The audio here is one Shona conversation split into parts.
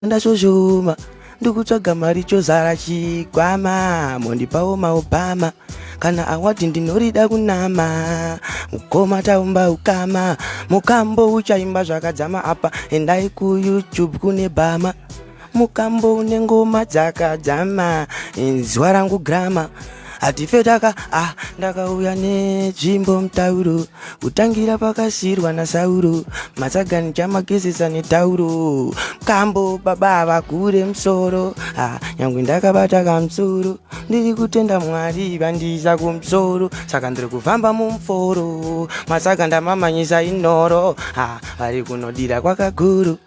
ndashoshoma ndikutsvaga mari chozara chikwama mondipawo maobama kana awadi ndinorida kunama mukoma taumba ukama mukambo uchaimba zvakadzama apa endai kuyoutube kune bama mukambo une ngoma dzakadzama inzwa rangu grama hatife taka ah ndakauya netsvimbo mutauro kutangira pakasirwa nasauro matsagani chamagezesa netauro kambo baba avakure musoro ah nyangwe ndakabata kamusoro ndiri kutenda mwari vandiisa kumusoro saka ndiri kufamba mumuforo matsaka ndamamanyisa inoro ah vari kunodira kwakakuru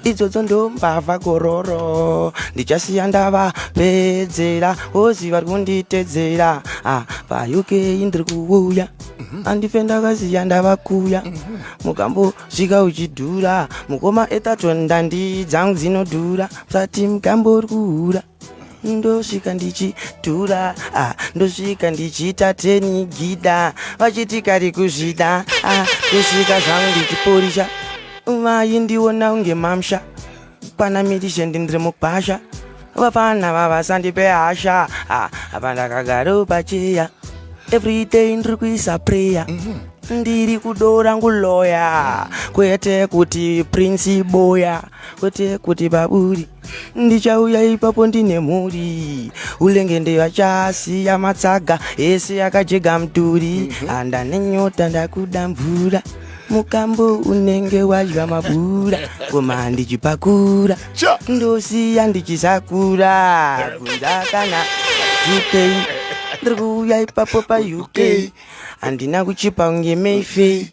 idzodzo ndombavha gororo ndichasiya ndava pedzera ozi vari kunditedzera ah, payukei ndiri kuuya mhm. andife ndakasiya ndava kuya mhm. mukambosvika uchidhura mukoma etato ndandidzangu dzinodhura musati mukambo uri kuhura ndosvika ndichitura ah, ndosvika ndichiita teni gida vachiti kari kuzvida ah, ndosvika zvangu ndichiporisha vayi ndiona unge mamsha pana mirishe ndindiri mupasha vapana vavasandipe hasha ah, apa ndakagaro pacheya everyday ndiri kuisa prayer mm -hmm ndiri kudora nguloya kwete kuti prince boya kwete kuti baburi ndichauya ipapo ndine mhuri ulenge ndevachasiya matsaga ese akajega mduri handa mhm. nenyota ndakuda mvura mukambo unenge wadya mabura koma ndichipakura ndosiya ndichisakura kunza kana zupei ndiri kuuya ipapo pauk handina kuchipa kunge mayfei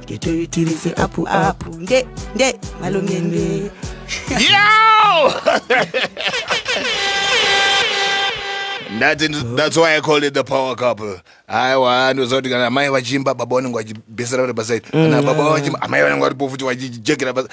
ngetoitirise apu apu nde nde malongende Yo! That's, in, that's why I call it the power couple. Aiwa ndozoti kana amai vachiimba baba vanenge vachibesera vari paside kana baba vachiimba amai vanenge varipo futi vachijekera paside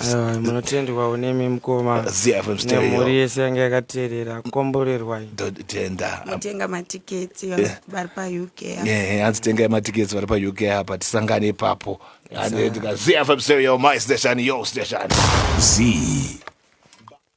Aiwa, munotendwawo nemi mukoma Zia from stereo. nemhuri yese yange yakateerera komborerwai Totenda. Mutenga matiketi Yeah. vari paUK. Eh, hanzi tengai matiketsi vari pauk apa tisangane ipapo Hanzi ndika- zfm stereo my station yo station Z